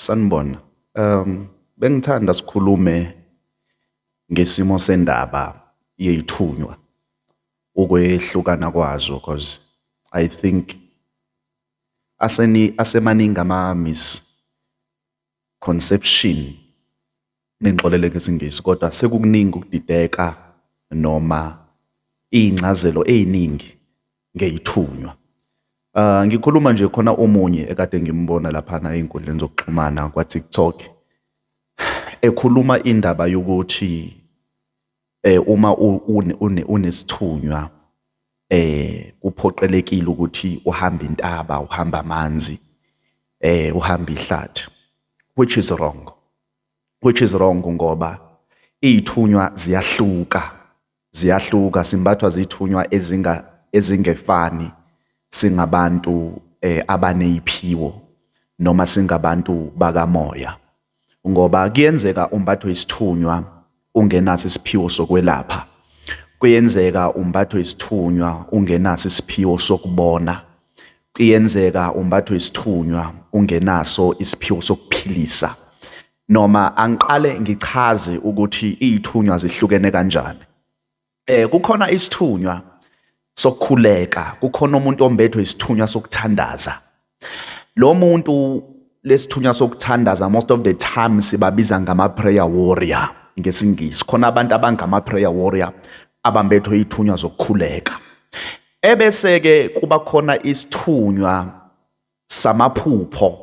Sanibona. Um bengithanda sikhulume ngesimo sendaba yey'thunywa, ukwehlukana kwazo because I think aseni asemaningi ama-miss conception nengixolele ngesingisi kodwa sekukuningi ukudideka noma iy'ncazelo ey'ningi ngey'thunywa. Uh, ngikhuluma nje khona omunye ekade ngimbona laphana ey'nkundleni zokuxhumana kwa-TikTok ekhuluma indaba yokuthi eh uma unesithunywa eh kuphoqelekile ukuthi uhamba intaba uhamba amanzi eh uhamba ihlathi which is wrong which is wrong ngoba izithunywa ziyahluka ziyahluka simbathwa zithunywa ezinga ezingefani singabantu eh abaneziphiwo noma singabantu bakamoya ngoba kuyenzeka umbathwe isithunywa ungenaso isiphiwo sokwelapha kuyenzeka umbathwe isithunywa ungenaso isiphiwo sokubona kuyenzeka umbathwe isithunywa ungenaso isiphiwo sokuphilisa noma angiqale ngichaze ukuthi izithunywa zihlukene kanjani eh kukhona isithunywa sokukhuleka kukhona umuntu ombethwe isithunywa sokuthandaza lo muntu lesithunywa sokuthandaza most of the time sibabiza ngama prayer warrior ngesingisi khona abantu abangama prayer warrior abambethwe ithunywa zokukhuleka ebese ke kuba khona isithunywa samaphupho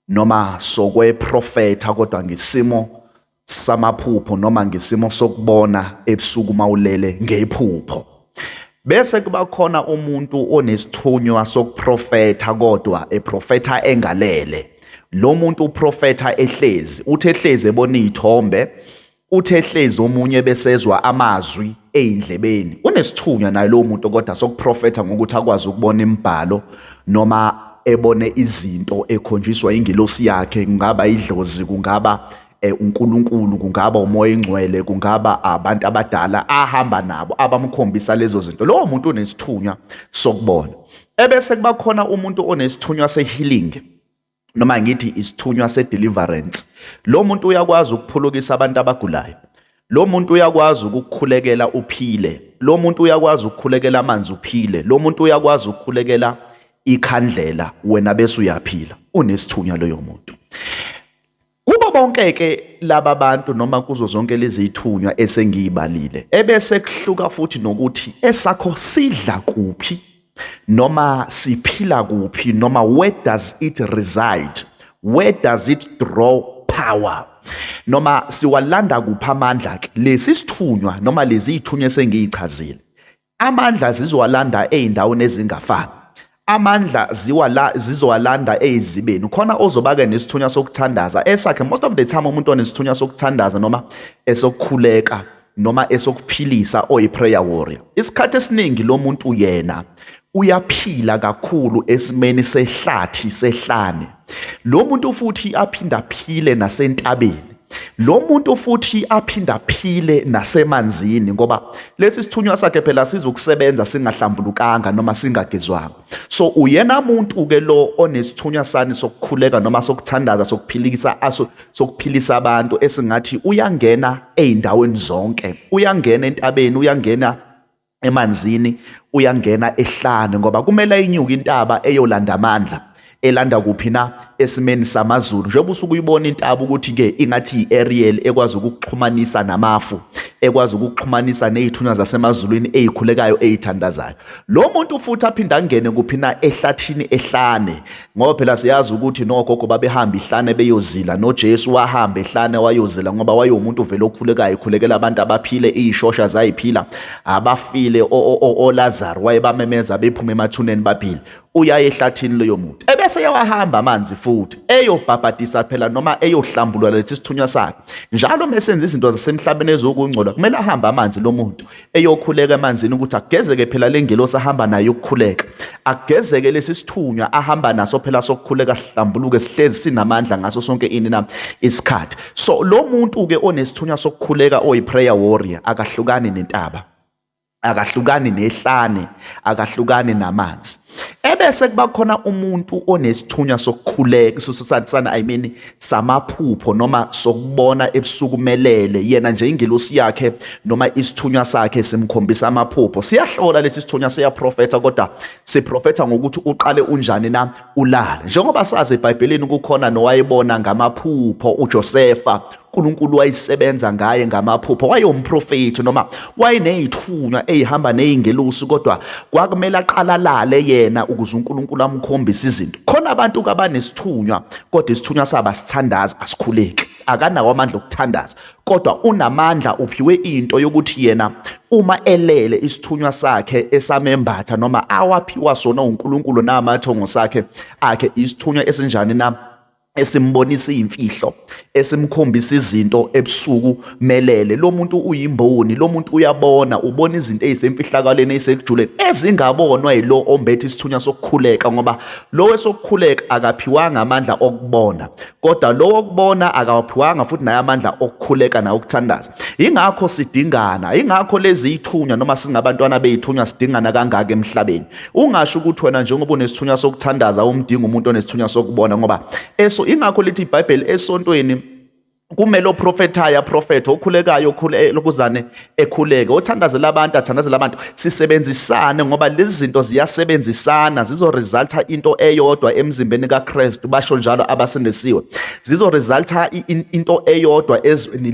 noma sokweprofetha kodwa ngisimo samaphupho noma ngisimo sokubona ebusuku uma ulele ngephupho bese kuba khona umuntu onesithunywa sokuprofetha kodwa eprofetha engalele lo muntu uprofetha ehlezi uthi ehlezi ebona iy'thombe Uthe hlezi omunye besezwa amazwi eyindlebeni. Unesithunywa naye lowo muntu kodwa sokuprofetha ngokuthi akwazi ukubona imibhalo noma ebone izinto ekhonjiswa ingelosi yakhe kungaba idlozi kungaba eh, uNkulunkulu kungaba umoya engcwele kungaba abantu abadala ahamba nabo abamkhombisa lezo zinto lowo muntu unesithunywa sokubona ebese kubakhona umuntu onesithunywa sehealing noma ngithi isithunywa sedeliverance lo muntu uyakwazi ukuphulukisa abantu abagulayo lo muntu uyakwazi ukukhulekela uphile lo muntu uyakwazi ukukhulekela amanzi uphile lo muntu uyakwazi ukukhulekela ikhandlela wena bese uyaphila unesithunywa loyo muntu Kubo bonke-ke laba bantu noma kuzo zonke lezi ithunywa esengiyibalile ebese kuhluka futhi nokuthi esakho sidla kuphi noma siphila kuphi noma where does it reside where does it draw power noma siwalanda kuphi amandla ke lesi sithunywa noma lezi ithunywa esengiyichazile Amandla zizowalanda ezindaweni ezingafani. Amandla ziwala zizowalanda ezibeni. Khona ozobake nesithunywa sokuthandaza esakhe most of the time umuntu onesithunywa sokuthandaza noma esokukhuleka noma esokuphilisa oyi prayer warrior. Isikhathi esiningi lo muntu yena uyaphila kakhulu esimeni sehlathi sehlane. lo muntu futhi aphinde aphile nasentabeni lo muntu futhi aphinde aphile nasemanzini ngoba lesi sithunywa sakhe phela sizokusebenza singahlambulukanga noma singagezwanga so uyena muntu ke lo onesithunywa sani sokukhuleka noma sokuthandaza sokuphilikisa aso sokuphilisa abantu esingathi uyangena ezindaweni zonke uyangena entabeni uyangena emanzini uyangena ehlane ngoba kumele inyuke intaba eyolanda amandla elanda kuphi na esimeni samazulu njengoba usuke uyibona intaba ukuthi ke ingathi yi-aerial ekwazi ukukuxhumanisa namafu ekwazi ukukuxhumanisa nezithunywa zasemazulwini ezikhulekayo ezithandazayo lo muntu futhi aphinde angene kuphi na ehlathini ehlane ngoba phela siyazi ukuthi nogogo babehamba ihlane beyozila noJesu wahamba ehlane wayozila ngoba wayewumuntu vele okhulekayo ekhulekela abantu abaphile izishosha zayiphila abafile oLazaro wayebamemeza bephuma emathuneni baphile uyaye ehlathini leyo muntu ebese yawahamba amanzi futhi eyobhabhadisa phela noma eyohlambulula lethi sithunywa sakhe njalo mesenza izinto zasemhlabeni ezokungcola kumele ahambe amanzi lo muntu eyokhuleka emanzini ukuthi agezeke phela le ngelosi ahamba nayo ukukhuleka agezeke lesi sithunywa ahamba naso phela sokukhuleka sihlambuluke sihlezi sinamandla ngaso sonke ini na isikhathi so lo muntu ke onesithunywa sokukhuleka oyi prayer warrior akahlukani nentaba akahlukani nehlane akahlukani namanzi ebese kuba khona umuntu onesithunywa sokukhuleka sosathana i mean samaphupho noma sokubona ebusuku melele yena nje ingelosi yakhe noma isithunywa sakhe simkhombisa amaphupho siyahlola lesi sithunywa siyaprofetha kodwa siprofetha ngokuthi uqale unjani na ulala njengoba sazi ebhayibhelini kukhona nowayebona ngamaphupho uJosefa uNkulunkulu wayisebenza ngaye ngamaphupho wayewumprofethi noma wayenezithunywa ezihamba nezingelosi kodwa kwakumele aqalalale yena ukuze uNkulunkulu amkhombise izinto khona abantu kabanesithunywa kodwa isithunywa saba sithandaza asikhuleki akanawo amandla okuthandaza kodwa unamandla uphiwe into yokuthi yena uma elele isithunywa sakhe esamembatha noma awaphiwa sona uNkulunkulu namathongo sakhe akhe isithunywa esinjani na esimbonisa imfihlo esimkhombisa izinto ebusuku melele lo muntu uyimboni lo muntu uyabona ubona izinto ezisemfihlakaleni ezisekujuleni ezingabonwa yilo ombethe isithunywa sokukhuleka ngoba lo wesokukhuleka akaphiwanga amandla okubona kodwa lo okubona akawaphiwanga futhi naye amandla okukhuleka naye ukuthandaza ingakho sidingana ingakho lezi ithunywa noma singabantwana beyithunywa sidingana kangaka emhlabeni Ungasho ukuthi wena njengoba unesithunywa sokuthandaza umdinga umuntu onesithunywa sokubona ngoba eso ingakho lithi iBhayibheli esontweni kumele oprofethayo aprofethe okhulekayo okhule lokuzane ekhuleke othandazela abantu athandazela abantu sisebenzisane ngoba lezi zinto ziyasebenzisana zizoresulta into eyodwa emzimbeni kaKristu basho njalo abasindisiwe zizoresulta into eyodwa ezweni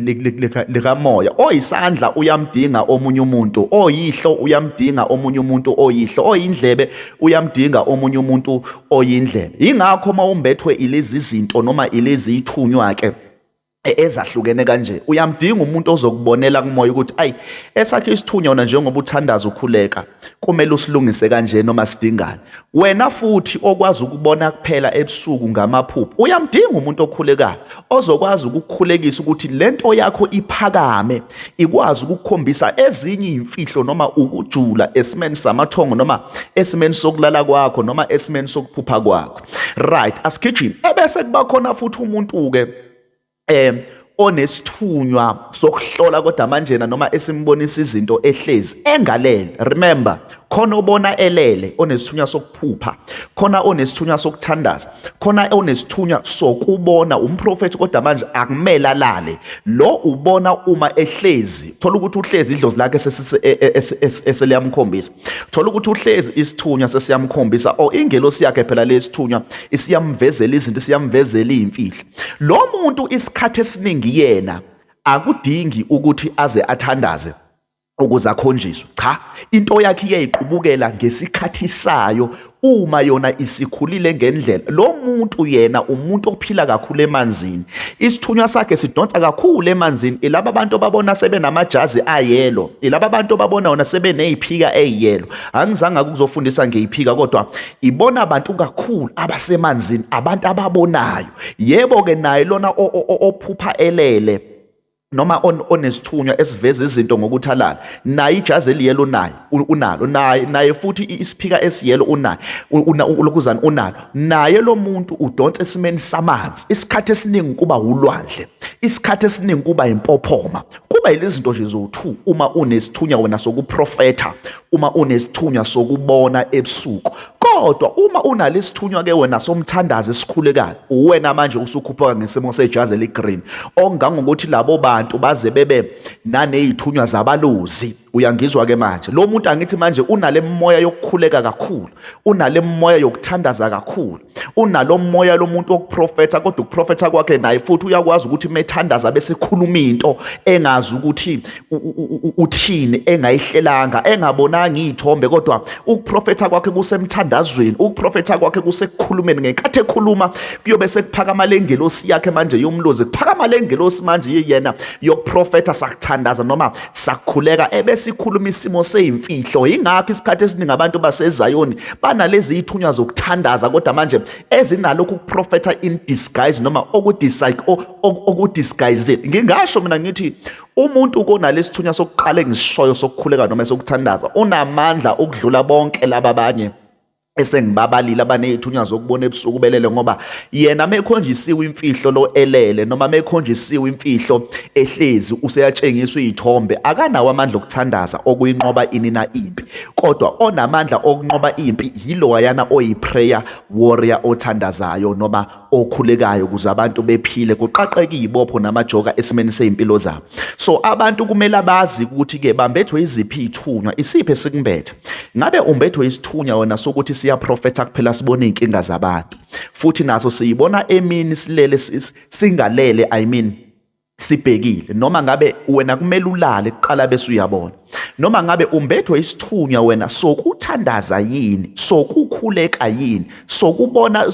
likamoya oyisandla uyamdinga omunye umuntu oyihlo uyamdinga omunye umuntu oyihlo oyindlebe uyamdinga omunye umuntu oyindlebe yingakho uma umbethwe ilezi zinto noma ilezi ithunywa ke e, ezahlukene kanje uyamdinga umuntu ozokubonela kumoya ukuthi ayi esakhe isithunywa wona njengoba uthandaza ukhuleka kumele usilungise kanje noma sidingane wena futhi okwazi ukubona kuphela ebusuku ngamaphupho uyamdinga umuntu okhulekayo ozokwazi ukukhulekisa ukuthi lento yakho iphakame ikwazi ukukhombisa ezinye imfihlo noma ukujula esimeni samathongo noma esimeni sokulala kwakho noma esimeni sokuphupha kwakho right asigijimi ebese kuba khona futhi umuntu ke eh onesithunywa sokuhlola kodwa manjena noma esimbonisa izinto ehlezi engalele remember khona obona elele onesithunywa sokuphupha khona onesithunywa sokuthandaza khona onesithunywa sokubona umprofethi kodwa manje akumele alale lo ubona uma ehlezi thola ukuthi uhlezi idlozi lakhe e, e, e, eseliyamkhombisa thola ukuthi uhlezi isithunywa sesiyamkhombisa o ingelosi yakhe phela lesithunywa isiyamvezela izinto isiyamvezela izimfihlo Lo muntu isikhathi esiningi yena akudingi ukuthi aze athandaze ukuze akhonjiswe cha into yakhe iyayiqubukela ngesikhathi sayo uma yona isikhulile ngendlela lo muntu yena umuntu ophila kakhulu emanzini isithunywa sakhe sidonsa kakhulu emanzini ilaba bantu babona sebenamajazi ayelo ilaba bantu babona wona sebeneyiphika eyelo angizange ukuzofundisa ngeyiphika kodwa ibona abantu kakhulu abasemanzini abantu ababonayo yebo ke naye lona ophupha elele noma onesithunywa esiveza izinto ngokuthalala naye ijazi eliyelo naye unalo naye naye futhi isiphika esiyelo unaye lokuzana unalo naye lo muntu udonsa esimeni samanzi isikhathi esiningi kuba wulwandle isikhathi esiningi kuba impophoma kuba yilezinto nje zowu uma unesithunya wena sokuprofetha uma unesithunywa sokubona ebusuku kodwa uma unalo isithunywa ke wena somthandazi esikhulekayo uwena manje usukhuphuka ngesimo sejazi eligreen ongangokuthi labo bantu baze bebe nanezithunywa zabalozi uyangizwa ke manje lo muntu angithi manje unale moya yokukhuleka kakhulu unale moya yokuthandaza kakhulu unalo moya lomuntu wokuprofetha kodwa ukuprofetha kwakhe naye futhi uyakwazi ukuthi methandaza bese khuluma into engazi ukuthi uthini engayihlelanga engabonanga izithombe kodwa ukuprofetha kwakhe kusemthandazweni ukuprofetha kwakhe kusekukhulumeni ngenkathi ekhuluma kuyobe sekuphakama lengelosi yakhe manje yomlozi kuphakama lengelosi manje yeyena yokuprofetha sakuthandaza noma sakhuleka ebesikhuluma isimo seyimfihlo yingakho isikhathi esiningi abantu basezayoni banalezi yithunywa zokuthandaza kodwa manje ezinalokhu ukuprofetha in disguise noma okudisguise ngingasho mina ngithi umuntu konalesi thunywa sokuqala engisishoyo sokukhuleka noma sokuthandaza unamandla ukudlula bonke laba abanye esengibabalile abanezithunywa zokubona ebusuku belele ngoba yena mekhonjisiwe imfihlo lo elele noma mekhonjisiwe imfihlo ehlezi useyatshengiswa izithombe akanawo amandla okuthandaza okuyinqoba inina impi kodwa onamandla okunqoba impi yiloyana oyiprayer warrior othandazayo noma okhulekayo ukuze abantu bephile kuqaqeke izibopho namajoka esimeni sezimpilo zabo so abantu kumele abazi ukuthi ke bambethwe iziphi ithunywa isiphi esikumbethe ngabe umbethwe isithunywa wena sokuthi siya profeta kuphela sibone inkinga zabantu futhi naso siyibona emini silele singalele i mean sibhekile noma ngabe wena kumele ulale kuqala bese uyabona noma ngabe umbethwe isithunywa wena sokuthandaza yini sokukhuleka yini sokubona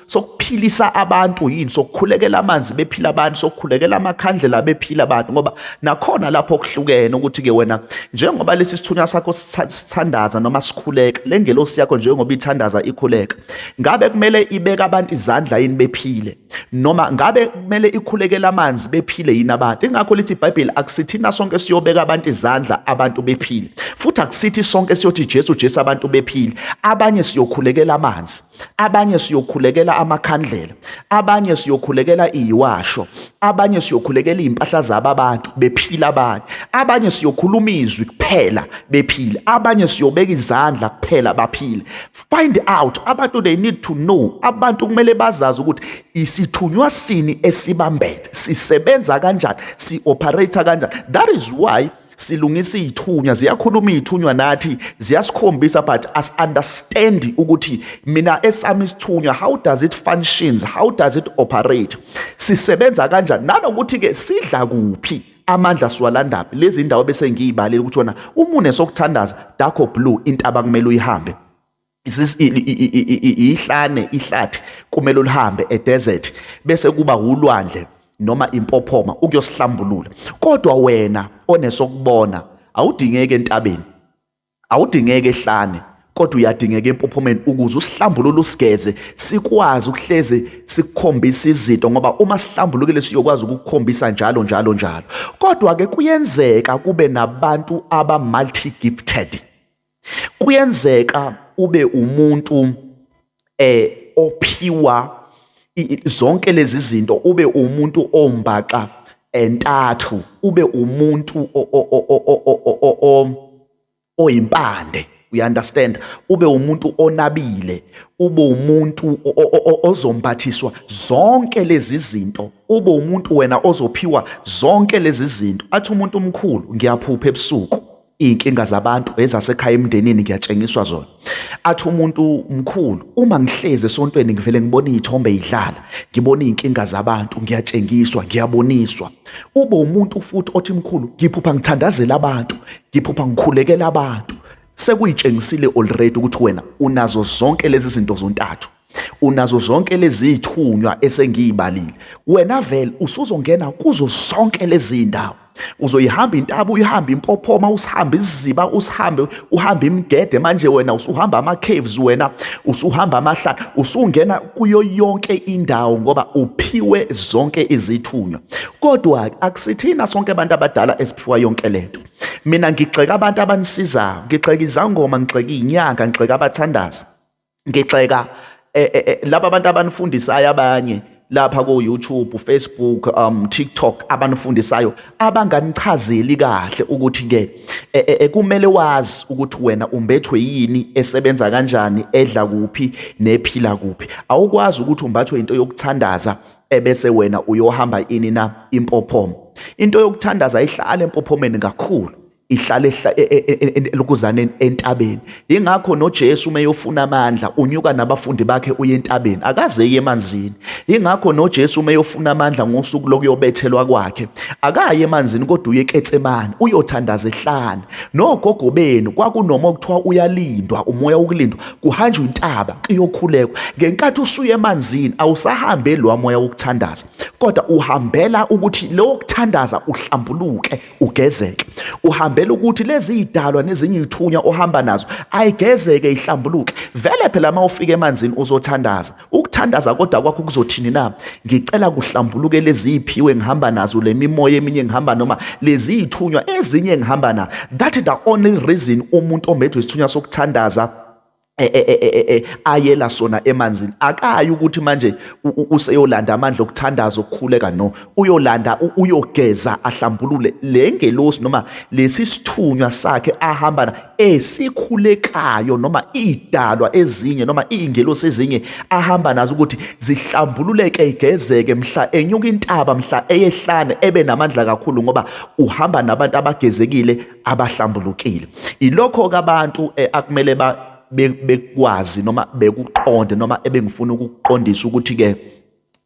sokuphilisa abantu yini sokukhulekela amanzi bephila abantu sokukhulekela amakhandlela bephila abantu ngoba nakhona lapho kuhlukene ukuthi ke wena njengoba lesi sithunywa sakho sithandaza noma sikhuleka lengelosi yakho njengoba ithandaza ikhuleka ngabe kumele ibeka abantu izandla yini bephile noma ngabe kumele ikhulekele amanzi bephile yini abantu ingakho lithi ibhayibheli akusithina sonke siyobeka abantu izandla abantu bephile futhi akusithi sonke siyothi jesu jesu abantu bephile abanye siyokhulekela amanzi abanye siyokhulekela amakhandlela abanye siyokhulekela iyiwasho abanye siyokhulekela izimpahla zabo abantu bephila abanye abanye siyokhuluma izwi kuphela bephile abanye siyobeka izandla kuphela baphile Find out abantu they need to know abantu kumele bazazi ukuthi isithunywa sini esibambethe sisebenza kanjani si operate kanjani that is why silungisa izithunywa ziyakhuluma izithunywa nathi ziyasikhombisa but as understand ukuthi mina esami isithunywa how does it functions how does it operate sisebenza kanjani nanokuthi ke sidla kuphi amandla siwalandaphi lezi ndawo bese ngiyibalile ukuthi wona umune sokuthandaza dakho blue intaba kumele uyihambe ihlane ihlathi kumele ulihambe edesert bese kuba ulwandle noma impophoma ukuyosihlambulula kodwa wena onesokubona awudingeki entabeni Awudingeki ehlane kodwa uyadingeka empophomeni ukuze usihlambulule usigeze sikwazi ukuhleze sikukhombisa izinto ngoba uma sihlambulukile siyokwazi ukukukhombisa njalo njalo njalo kodwa ke kuyenzeka kube nabantu aba multi gifted kuyenzeka ube umuntu eh ophiwa zonke lezi zinto ube umuntu ombaxa entathu ube umuntu oyimpande you understand ube umuntu onabile ube umuntu ozombathiswa zonke lezi zinto ube umuntu wena ozophiwa zonke lezi zinto athi umuntu omkhulu ngiyaphupha ebusuku iy'nkinga zabantu ezasekhaya emndenini ngiyatshengiswa zona athi umuntu mkhulu uma ngihlezi esontweni ngivele ngibona iy'thombe yidlala ngibona iy'nkinga zabantu ngiyatshengiswa ngiyaboniswa ube umuntu futhi othi mkhulu ngiphupha ngithandazela abantu ngiphupha ngikhulekela abantu sekuyitshengisile already ukuthi wena unazo zonke lezi zinto zontathu unazo zonke lezi thunywa esengiyibalile wena vele usuzongena kuzo zonke lezi ndawo uzoyihamba intaba uyihambe impophoma usihambe isiziba usihambe uhambe imgede manje wena usuhamba ama-caves wena usuhamba amahlala usungena kuyo yonke indawo ngoba uphiwe zonke izithunywa kodwa akusithina sonke abantu abadala esiphiwa yonke le nto mina ngigxeka abantu abanisizayo ngigxeka izangoma ngigxeka iy'nyanga ngigxeka abathandazi ngigxeka eh, eh, eh, laba abantu abanifundisayo abanye lapha ko YouTube, Facebook, um TikTok abanifundisayo abanganichazeli kahle ukuthi ke e, e, e, kumele wazi ukuthi wena umbethwe yini esebenza kanjani edla kuphi nephila kuphi awukwazi ukuthi umbathwe into yokuthandaza ebese wena uyohamba ini na impophomo into yokuthandaza ihlala empophomeni kakhulu ihlale e, e, e, elokuzane entabeni ingakho noJesu uma eyofuna amandla unyuka nabafundi bakhe uye entabeni akaze eye emanzini ingakho noJesu uma eyofuna amandla ngosuku lokuyobethelwa kwakhe akaye emanzini kodwa uye eKetsemane uyothandaza ehlane nogogo benu kwakunoma okuthiwa uyalindwa umoya wokulindwa kuhanjwa intaba kuyokhulekwa ngenkathi usuye emanzini awusahambe lo moya wokuthandaza kodwa uhambela ukuthi lo kuthandaza uhlambuluke ugezeke uhambela ukuthi lezi idalwa nezinye izithunywa ohamba nazo ayigezeke ihlambuluke vele phela uma ufika emanzini uzothandaza ukuthandaza kodwa kwakho kuzothini na ngicela kuhlambuluke lezi iphiwe ngihamba nazo le mimoya eminye ngihamba noma lezi ithunywa ezinye ngihamba na that is the only reason umuntu omedwe isithunywa sokuthandaza E, e, e, ayela sona emanzini akayi ukuthi manje useyolanda amandla okuthandaza okukhuleka no uyolanda uyogeza ahlambulule le ngelosi noma lesi sithunywa sakhe ahambana esikhulekayo noma idalwa ezinye noma iingelosi ezinye ahamba nazo ukuthi zihlambululeke igezeke mhla enyuka intaba mhla eyehlane ebe namandla kakhulu ngoba uhamba nabantu abagezekile abahlambulukile ilokho kabantu eh, akumele ba bekwazi noma bekuqonde noma ebengifuna ukuqondisa ukuthi ke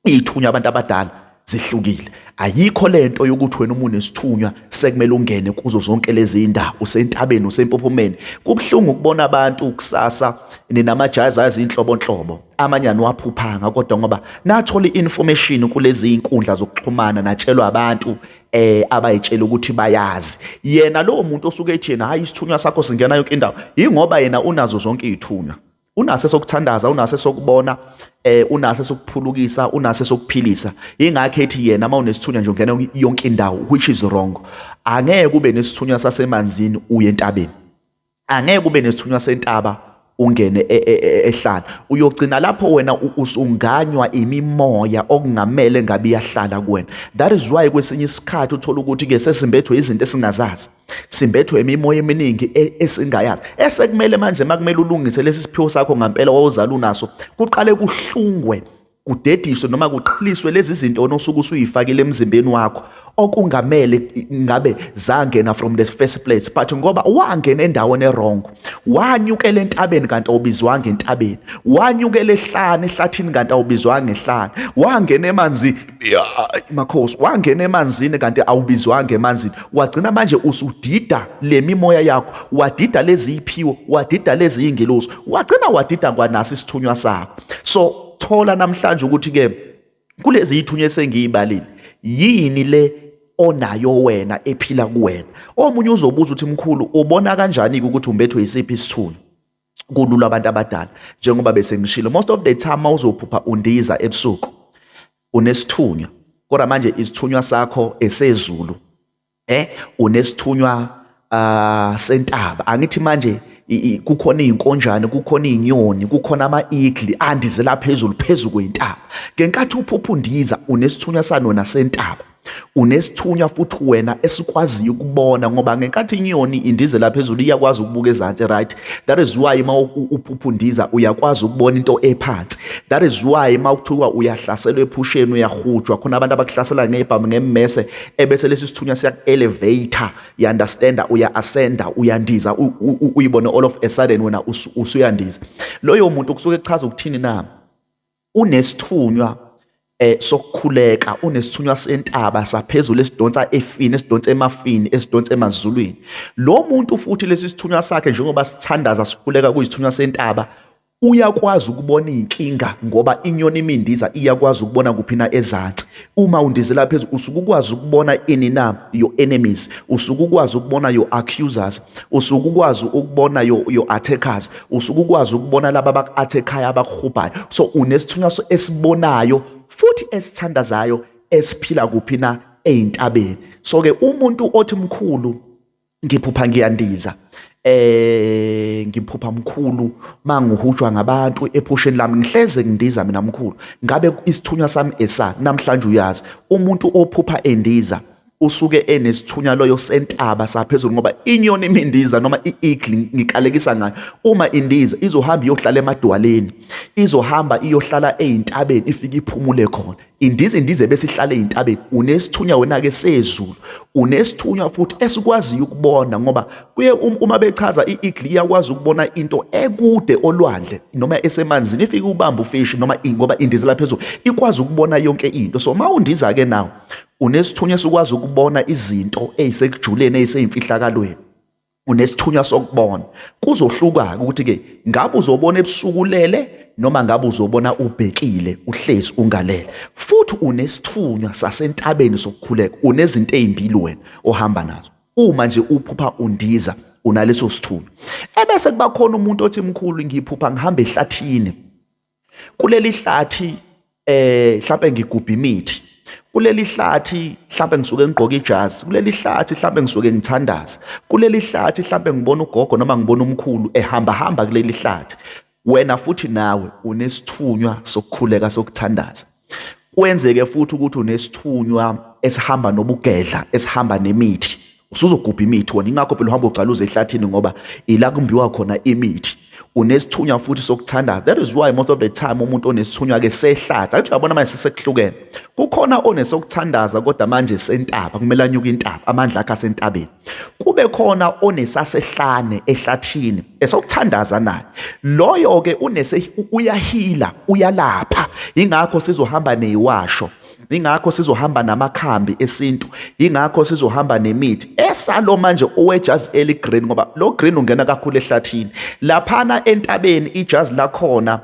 ithunywa abantu abadala zihlukile ayikho lento yokuthi wena umuntu nesithunywa sekumele ungene kuzo zonke lezi ndawo usentabeni usempophomeni kubhlungu ukubona abantu ukusasa ninamajazi azinhlobo nhlobo amanye aniwaphuphanga kodwa ngoba nathola i-information kulezi inkundla zokuxhumana natshelwa abantu eh abayitshela ukuthi bayazi yena lowo muntu osuke ethi yena hayi isithunywa sakho singena yonke indawo ingoba yena unazo zonke izithunywa unase sokuthandaza unase sokubona eh unase sokuphulukisa unase sokuphilisa ingakho ethi yena uma unesithunywa nje ungena yonke indawo which is wrong angeke kube nesithunywa sasemanzini uye entabeni angeke ube nesithunywa sentaba ungene e, e, e, ehlala uyogcina lapho wena usunganywa imimoya okungamele ngabe iyahlala kuwena that is why kwesinye isikhathi uthola ukuthi ke sesimbethwe izinto esingazazi simbethwe imimoya eminingi esingayazi esekumele manje makumele ulungise lesi siphiwo sakho ngampela wawuzala unaso kuqale kuhlungwe kudediswe noma kuqhiliswe lezi zinto onosuke usuyifakile emzimbeni wakho okungamele ngabe zangena from the first place but ngoba wangena endaweni erong wanyukela entabeni kanti awubizwanga entabeni wanyukela ehlane ehlathini kanti awubizwanga ehlane wangena emanzini makhosi wangena emanzini kanti awubizwanga emanzini wagcina manje usudida le mimoya yakho wadida lezi iphiwo wadida lezi ingelosi wagcina wadida kwanasi isithunywa sakho so sokuthola namhlanje ukuthi ke kulezi ithunya esengiyibalile yini le onayo wena ephila kuwena omunye uzobuza ukuthi mkhulu ubona kanjani ukuthi umbethwe isiphi isithunywa kulula abantu abadala njengoba bese ngishilo most of the time mawuzophupha undiza ebusuku unesithunywa kodwa manje isithunywa sakho esezulu eh unesithunywa uh, sentaba angithi manje kukhona izinkonjane kukhona izinyoni kukhona ama-igli andizela phezulu phezu kwentaba ngenkathi uphupha undiza unesithunywa sanona sentaba unesithunywa futhi wena esikwaziyo ukubona ngoba ngenkathi inyoni indize la phezulu iyakwazi ukubuka ezansi right that is why uma uphupha undiza uyakwazi ukubona into ephansi that is why uma kuthiwa uyahlaselwa ephusheni uyahujwa khona abantu abakuhlasela ngebhamu ngemmese ebese lesi sithunywa siyaku-elevator you understanda uya-ascenda uyandiza uyibone all of a sudden wena usuyandiza loyo muntu kusuke kuchaza ukuthini na unesithunywa eh sokukhuleka unesithunywa sentaba saphezulu esidonsa efini esidonsa emafini esidonsa emazulwini lo muntu futhi lesi sithunywa sakhe njengoba sithandaza sikhuleka kuyisithunywa sentaba uyakwazi ukubona iy'nkinga ngoba inyoni imindiza iyakwazi ukubona kuphi na ezansi uma undizela phezulu usuke ukwazi ukubona ini na your enemies usuke ukwazi ukubona your accusers usuke ukwazi ukubona your, your attackers usuke ukwazi ukubona laba abaku-athekhayo abakuhubhayo so unesithunywa esibonayo futhi esithandazayo esiphila kuphi na ey'ntabeni so-ke umuntu othi mkhulu ngiphupha ngiyandiza eh ngiphupha mkhulu mangihujwa ngabantu ephusheni lami ngihleze ngindiza mina mkhulu ngabe isithunywa sami esa namhlanje uyazi umuntu ophupha endiza usuke enesithunywa loyo sentaba saphezulu ngoba inyoni imindiza noma i-eagle ngikalekisa ngayo uma indiza izohamba iyohlala emadwaleni izohamba iyohlala ezintabeni ifike iphumule khona Indiza indiza ebesihlale ezintabeni unesithunywa wena ke sezulu unesithunywa futhi esikwaziyo ukubona ngoba kuye um, uma bechaza iigli iyakwazi ukubona into ekude olwandle noma esemanzini ifike ubamba ufishi noma ngoba indiza la phezulu ikwazi ukubona yonke into so uma undiza ke nawo unesithunywa esikwazi ukubona izinto ezisekujuleni eziseyimfihlakalweni unesithunywa sokubona kuzohluka-ke ukuthi-ke ngabe uzobona ebusuku ulele noma ngabe uzobona ubhekile uhlezi ungalele futhi unesithunywa sasentabeni sokukhuleka unezinto ezimbili wena ohamba nazo uma nje uphupha undiza unaleso sithunywa ebese kuba khona umuntu othi mkhulu ngiphupha ngihamba ehlathini kuleli hlathi eh mhlawumbe ngigubha imithi kuleli hlathi mhlawumbe ngisuke ngigqoke ijazi kuleli hlathi mhlawumbe ngisuke ngithandaza kuleli hlathi mhlawumbe ngibona ugogo noma ngibona umkhulu ehamba hamba kuleli hlathi wena futhi nawe unesithunywa sokukhuleka sokuthandaza kwenzeke futhi ukuthi unesithunywa esihamba nobugedla esihamba nemithi usuzogubha imithi wona ingakho phela uhamba ugcaluza ehlathini ngoba ila kumbiwa khona imithi unesithunywa futhi sokuthandaza that is why most of the time umuntu onesithunywa ke sehlathi athi uyabona manje sesekuhlukene kukhona onesokuthandaza kodwa manje sentaba kumele anyuke intaba amandla akhe asentabeni kube khona onesasehlane ehlathini esokuthandaza naye loyo ke unese uyahila uyalapha ingakho sizohamba neyiwasho ingakho sizohamba namakhambi esintu ingakho sizohamba nemithi esalo manje owejazi eli green ngoba lo green ungena kakhulu ehlathini laphana entabeni ijazi lakhona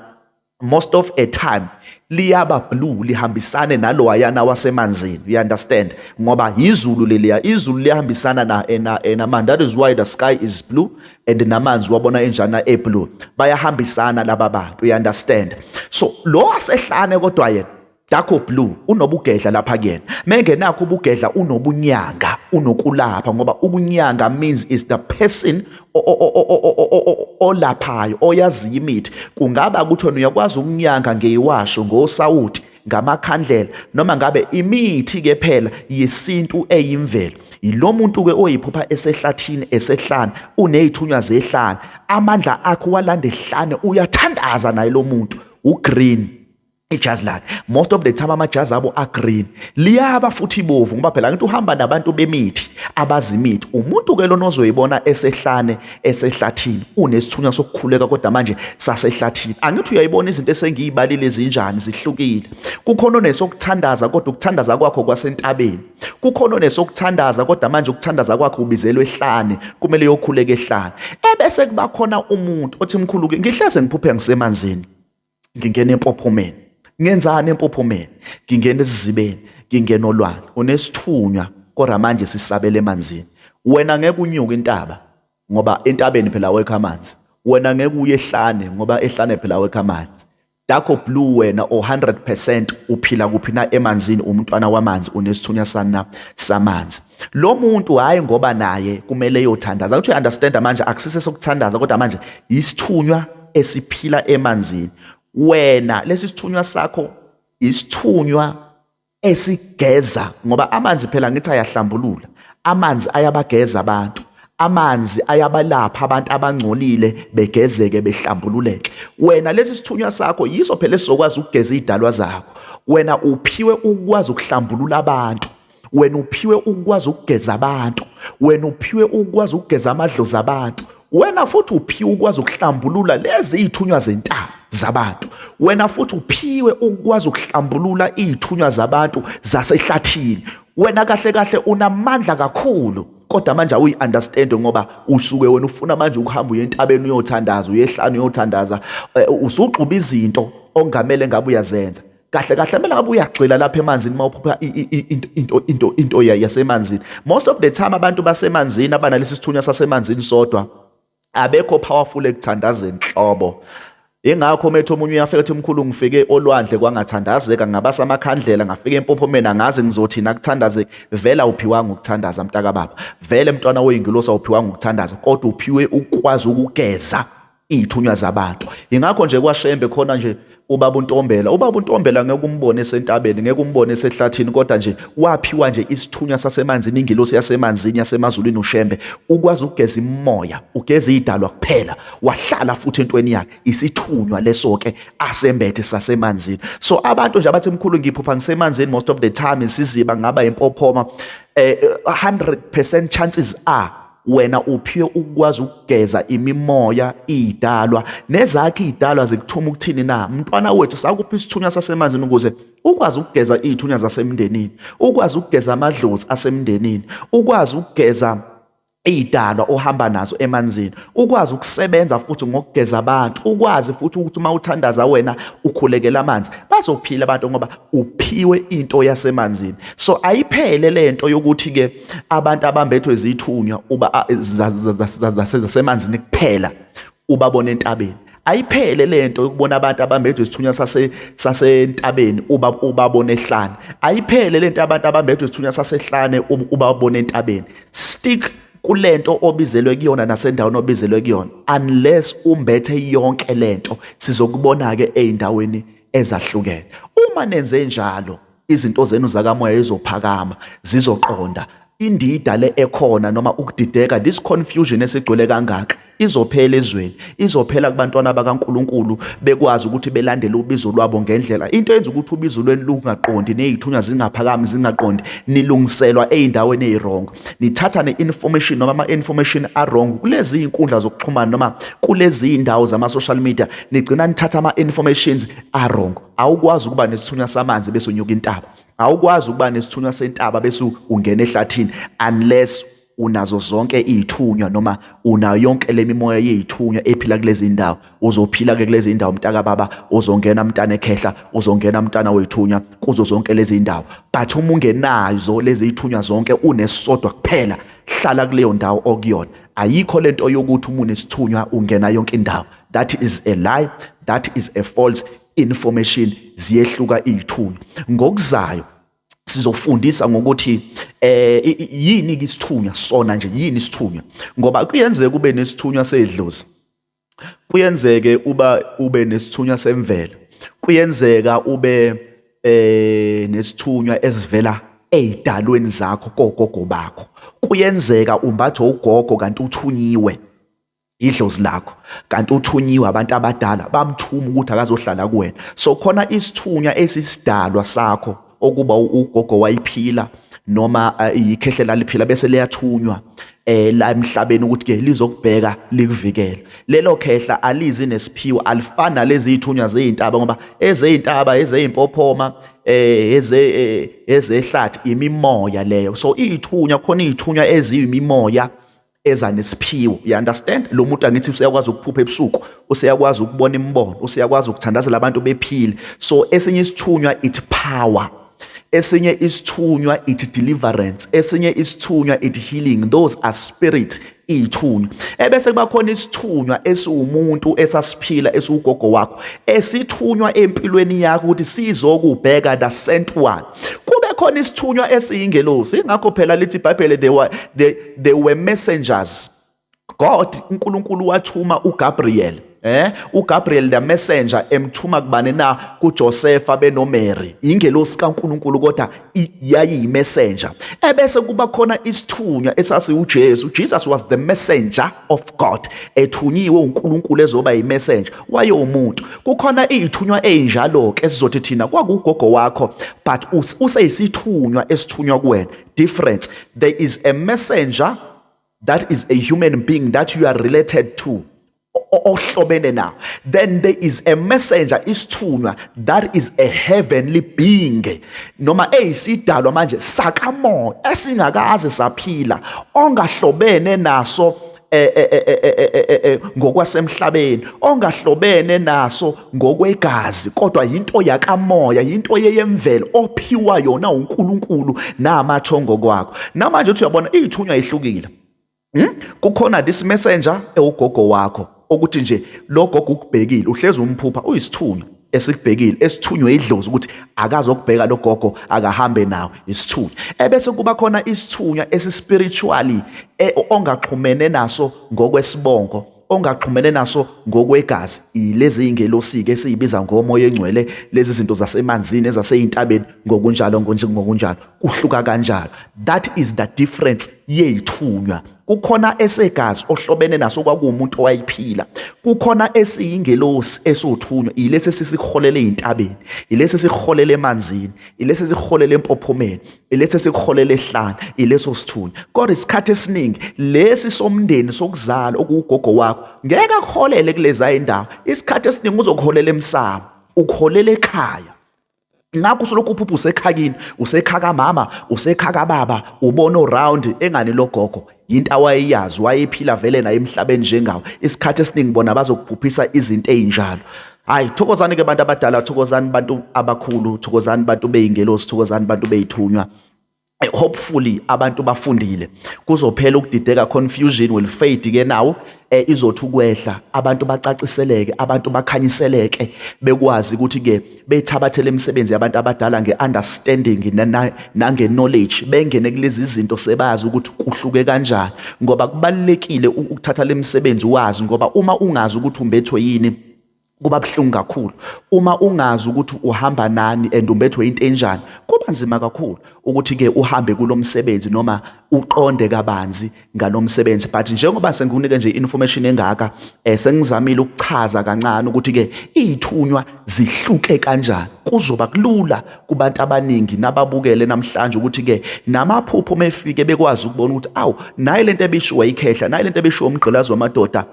most of a time liyaba blue lihambisane nalowayana wasemanzini you understand ngoba yizulu leliya izulu liyahambisana na ena ena man that is why the sky is blue and namanzi wabona enjana e blue bayahambisana laba bantu you understand so lo asehlane kodwa yena Darko Blue unobugedla lapha kuyena. Mengenakho ubugedla unobunyanga, unokulapha ngoba ukunyanga means is the person olaphayo oyaziyo imithi. Kungaba ukuthi wena uyakwazi ukunyanga ngeyiwasho ngosawuti ngamakhandlela noma ngabe imithi ke phela yesintu eyimvelo yilo muntu ke oyiphupha esehlathini esehlane unezithunywa zehlane amandla akhe walanda ehlane uyathandaza naye lo muntu ugreen ijazi lakhe most of the time amajazi abo agreen liyaba futhi ibovu ngoba phela ngithi uhamba nabantu bemithi abazi imithi umuntu ke lona ozoyibona esehlane esehlathini unesithunywa sokukhuleka kodwa manje sasehlathini angithi uyayibona izinto esengiyibalile ezinjani zihlukile kukhona onesokuthandaza kodwa ukuthandaza kwakho kwasentabeni kukhona onesokuthandaza kodwa manje ukuthandaza kwakho ubizelwe ehlane kumele uyokhuleka ehlane ebese kuba khona umuntu othi mkhulu ke ngihleze ngiphuphe ngisemanzini ngingena empophomeni ngenzani empophomeni ngingena esizibeni ngingena olwandle unesithunywa kodwa manje sisabele emanzini wena ngeke unyuke intaba ngoba entabeni phela awekho amanzi wena ngeke uye ehlane ngoba ehlane phela awekho amanzi Dakho Blue wena o100% uphila kuphi na emanzini umntwana wamanzi unesithunya sana samanzi lo muntu hayi ngoba naye kumele eyothandaza ukuthi understand manje akusise sokuthandaza kodwa manje isithunywa esiphila emanzini wena lesi sithunywa sakho isithunywa esigeza ngoba amanzi phela ngithi ayahlambulula amanzi ayabageza abantu amanzi ayabalapha abantu abangcolile begezeke behlambululeke wena lesi sithunywa sakho yiso phela esizokwazi ukugeza izidalwa zakho wena uphiwe ukwazi ukuhlambulula abantu wena uphiwe ukwazi ukugeza abantu wena uphiwe ukwazi ukugeza amadlozi abantu wena futhi uphiwe ukwazi ukuhlambulula lezi iy'thunywa zentaba zabantu wena futhi uphiwe ukwazi ukuhlambulula iy'thunywa zabantu zasehlathini wena kahle kahle unamandla kakhulu kodwa manje awuyi-understand ngoba usuke wena ufuna manje ukuhamba uye entabeni uyothandaza uyehlanu uyothandaza eh, usugxuba izinto ongamele ngabe uyazenza kahle kahle mina ngabe uyagxila lapha emanzini uma uphupha into into into yasemanzini most of the time abantu basemanzini abanalesi sithunywa sasemanzini sodwa abekho powerful ekuthandazeni nhlobo ingakho methu omunye uyafika ethi mkhulu ngifike olwandle kwangathandazeka ngabasa amakhandlela ngafika empopho mina ngazi ngizothi nakuthandaze vele awuphiwanga ukuthandaza mntaka baba vele mntwana oyingilosi awuphiwanga ukuthandaza kodwa uphiwe ukwazi ukugeza iy'thunywa zabantu yingakho nje kwashembe khona nje ubaba untombela ubaba untombela ngeke umbone esentabeni ngeke umbone esehlathini kodwa nje waphiwa nje isithunywa sasemanzini ingilosi yasemanzini yasemazulwini ushembe ukwazi ukugeza imoya ugeza idalwa kuphela wahlala futhi entweni yakhe isithunywa leso ke asembethe sasemanzini so abantu nje abathi mkhulu ngiphupha ngisemanzini most of the time isiziba ngaba impophoma eh 100% chances are wena uphiwe ukwazi ukugeza imimoya idalwa nezakhe idalwa zikuthuma ukuthini na mntwana wethu sakuphi isithunywa sasemanzini ukuze ukwazi ukugeza izithunywa zasemndenini ukwazi ukugeza amadlozi asemndenini ukwazi ukugeza iy'dalwa ohamba nazo emanzini ukwazi ukusebenza futhi ngokugeza abantu ukwazi futhi ukuthi uma uthandaza wena ukhulekela amanzi bazophila abantu ngoba uphiwe into yasemanzini so ayiphele le nto yokuthi-ke abantu abambethwe zithunywa uba zasemanzini kuphela ubabona entabeni ayiphele lento ukubona abantu abambedwe isithunywa sase sasentabeni uba ubabona ehlane ayiphele lento abantu abambedwe isithunywa sasehlane ubabona entabeni stick kulento obizelwe kuyona nasendaweni obizelwe kuyona unless umbethe yonke lento sizokubona ke ezindaweni ezahlukene uma nenze njalo izinto zenu zakamoya izophakama zizoqonda indida le ekhona noma ukudideka this confusion esigcwele kangaka izophela ezweni izophela kubantwana bakaNkuluNkulu bekwazi ukuthi belandele ubizo lwabo ngendlela into eyenza ukuthi ubizo lweni lungaqondi nezithunywa zingaphakami zingaqondi nilungiselwa ezindaweni eziwrong nithatha neinformation noma ama information awrong kulezi inkundla zokuxhumana noma kulezi indawo zama social media nigcina nithatha ama informations arongo awukwazi ukuba nesithunywa samanzi bese unyuka intaba awukwazi ukuba nesithunywa sentaba bese ungena ehlathini unless unazo zonke izithunywa noma unayo yonke lemimoya yezithunywa ephila kulezi ndawo uzophila ke kulezi ndawo mntaka baba uzongena mntana ekhehla uzongena mntana wethunywa kuzo zonke lezi ndawo but uma ungenazo lezi zithunywa zonke unesisodwa kuphela hlala kuleyo ndawo okuyona ayikho lento yokuthi umuntu isithunywa ungena yonke indawo that is a lie that is a false information ziyehluka izithunywa ngokuzayo sizofundisa ngokuthi eh yini ke isithunywa sona nje yini isithunywa ngoba kuyenzeka kube nesithunywa sedlozi kuyenzeke uba ube nesithunywa semvelo kuyenzeka ube eh nesithunywa esivela ezidalweni zakho kogogo bakho kuyenzeka umbathe ugogo kanti uthunyiwe idlozi lakho kanti uthunyiwe abantu abadala bamthuma ukuthi akazohlala kuwena so khona isithunywa esisidalwa sakho okuba ugogo wayiphila noma eh, ikhehle laliphila bese liyathunywa eh la emhlabeni ukuthi ke lizokubheka likuvikela lelo khehla alizi nesiphiwo alifani nalezi ithunywa zeintaba ngoba ezeintaba ezeimpophoma eh eze eh, ezehlathi imimoya leyo so ithunywa khona ithunywa eziyimimoya eza nesiphiwo you understand lo muntu angithi useyakwazi ukuphupha ebusuku useyakwazi ukubona imibono useyakwazi ukuthandazela abantu bephile so esinye isithunywa it power esinye isithunywa it deliverance esinye isithunywa it healing those are spirit iyithunywa ebese kuba khona isithunywa esiwumuntu esasiphila esiwugogo wakho esithunywa empilweni yakho ukuthi sizokubheka the sent one kube khona isithunywa esiyingelosi ingakho phela lithi ibhayibhele the, the they were messengers god unkulunkulu wathuma ugabriel eh uGabriel the messenger emthuma kubani na kuJosefa benoMary ingelosi kaNkuluNkulu kodwa yayiyimessenger ebese kuba khona isithunywa esasi uJesu Jesus was the messenger of God ethunyiwe uNkulunkulu ezoba yimessenger waye umuntu kukhona izithunywa ezinjalo ke sizothi thina kwakugogo wakho but useyisithunywa esithunywa kuwena difference there is a messenger that is a human being that you are related to ohlobene nawo then there is a messenger isithunywa that is a heavenly being noma eyisidalwa manje sakamoya esingakaze saphila ongahlobene naso eh, eh, eh, ngokwasemhlabeni ongahlobene naso ngokwegazi kodwa yinto yakamoya yinto yeyemvelo ophiwa yona uNkulunkulu namathongo kwakho namanje uthi uyabona izithunywa ihlukile hmm? kukhona this messenger ewugogo wakho okuthi nje logogo ukubhekile uhlezi umphupha uyisithunywa esikubhekile esithunywe idlozi ukuthi akazokubheka logogo akahambe nawo isithunywa ebese kuba khona isithunywa esispiritually e, ongaxhumene naso ngokwesibongo ongaxhumene naso ngokwegazi ilezi ingelosike esiyibiza ngomoya engcwele lezi zinto zasemanzini ezaseyintabeni ngokunjalo ngokunjalo kuhluka kanjalo that is the difference yeyithunywa kukhona esegazi ohlobene naso kwakuwumuntu owayiphila kukhona esiyingelosi esothunywa yilesi esisiholele ezintabeni yilesi esiholele emanzini yilesi esiholele empophomeni yilesi esiholele ehlana yileso sithunywa kodwa isikhathi esiningi lesi somndeni sokuzala okuwugogo wakho ngeke akuholele kuleza indawo isikhathi esiningi uzokuholela emsamo ukuholela ekhaya ngakho usolokhu uphupha usekhakini usekhaka mama usekhaka baba ubona uround engani logogo yinto awayeyazi wayephila vele naye emhlabeni njengawo isikhathi esiningi bona bazokuphuphisa izinto ezinjalo hayi thokozani ke bantu abadala thokozani bantu abakhulu thokozani bantu beyingelosi thokozani bantu beyithunywa Eh, hopefully abantu bafundile kuzophela ukudideka confusion will fade ke nawo eh, izothi ukwehla abantu bacaciseleke abantu bakhanyiseleke bekwazi ukuthi ke bethabathele imisebenzi yabantu abadala ngeunderstanding nange knowledge bengene kulezi zinto sebazi ukuthi kuhluke kanjani ngoba kubalekile ukuthatha lemisebenzi wazi ngoba uma ungazi ukuthi umbethwe yini kuba buhlungu kakhulu uma ungazi ukuthi uhamba nani and umbethwe into enjani kuba nzima kakhulu ukuthi ke uhambe kulomsebenzi noma uqonde kabanzi ngalomsebenzi but njengoba sengikunike nje information engaka eh sengizamile ukuchaza kancane ukuthi ke izithunywa zihluke kanjani kuzoba kulula kubantu abaningi nababukele namhlanje ukuthi ke namaphupho mefike bekwazi ukubona ukuthi awu nayi lento ebishiwa ikhehla nayi lento ebishiwa umgqilazi wamadoda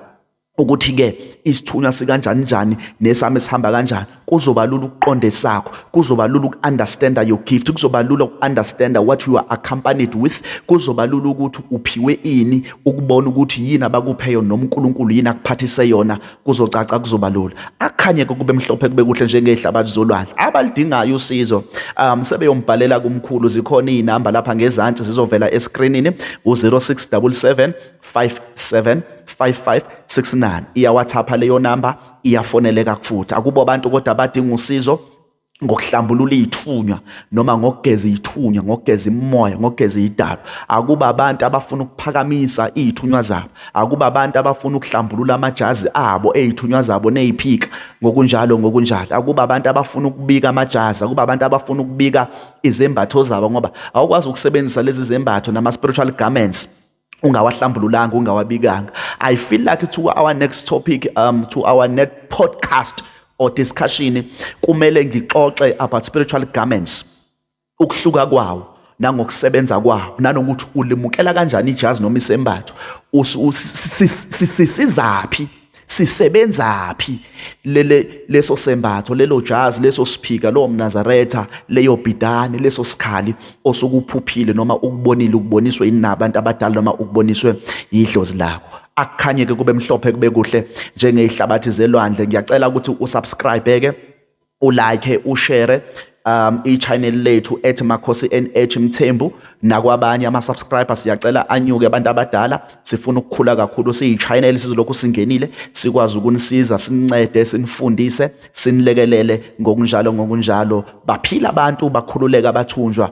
ukuthi ke isithunywa sikanjani njani nesami sihamba kanjani kuzoba lula ukuqonda esakho kuzoba lula uku-understanda your gift kuzoba lula uku-understanda what you are accompanied with kuzoba lula ukuthi uphiwe ini ukubona ukuthi yini abakuphe yona noma unkulunkulu yini akuphathise yona kuzocaca kuzoba lula akhanye-ke kube mhlophe kube kuhle njengey'hlabathi zolwandle abalidingayo usizo um sebeyombhalela kumkhulu zikhona iy'namba lapha ngezansi zizovela eskrinini u-0677 575569 iyawathapha leyo namba iyafoneleka futhi akubo abantu kodwa abadinga usizo ngokuhlambulula izithunywa noma ngokugeza izithunywa ngokugeza imoya ngokugeza idalo akuba abantu abafuna ukuphakamisa izithunywa zabo akuba abantu abafuna ukuhlambulula amajazi abo ezithunywa zabo neziphika ngokunjalo ngokunjalo akuba abantu abafuna ukubika amajazi akuba abantu abafuna ukubika izembatho zabo ngoba awukwazi ukusebenzisa lezi zembatho nama spiritual garments ungawahlambululanga ungawabikanga i feel like to our next topic um to our next podcast or discussion kumele ngixoxe about spiritual garments ukuhluka kwawo nangokusebenza kwawo nanokuthi ulimukela kanjani ijazi noma isembatho sisizaphi sisebenzaphi lele leso sembatho lelo jazi leso siphika lowo mnazaretha leyo bhidane leso sikhali osukuphuphile noma ukubonile ukuboniswe yini nabantu abadala noma ukuboniswe yidlozi lakho akukhanye ke kube mhlophe kube kuhle njengezihlabathi zelwandle ngiyacela ukuthi usubscribe ke ulike ushare um i-channel lethu ethi makhosi nh mthembu nakwabanye ama-subscriber siyacela anyuke abantu abadala sifuna ukukhula kakhulu siyi-channel sizolokhu singenile sikwazi ukunisiza sinincede sinifundise sinilekelele ngokunjalo ngokunjalo baphila abantu bakhululeka bathunjwa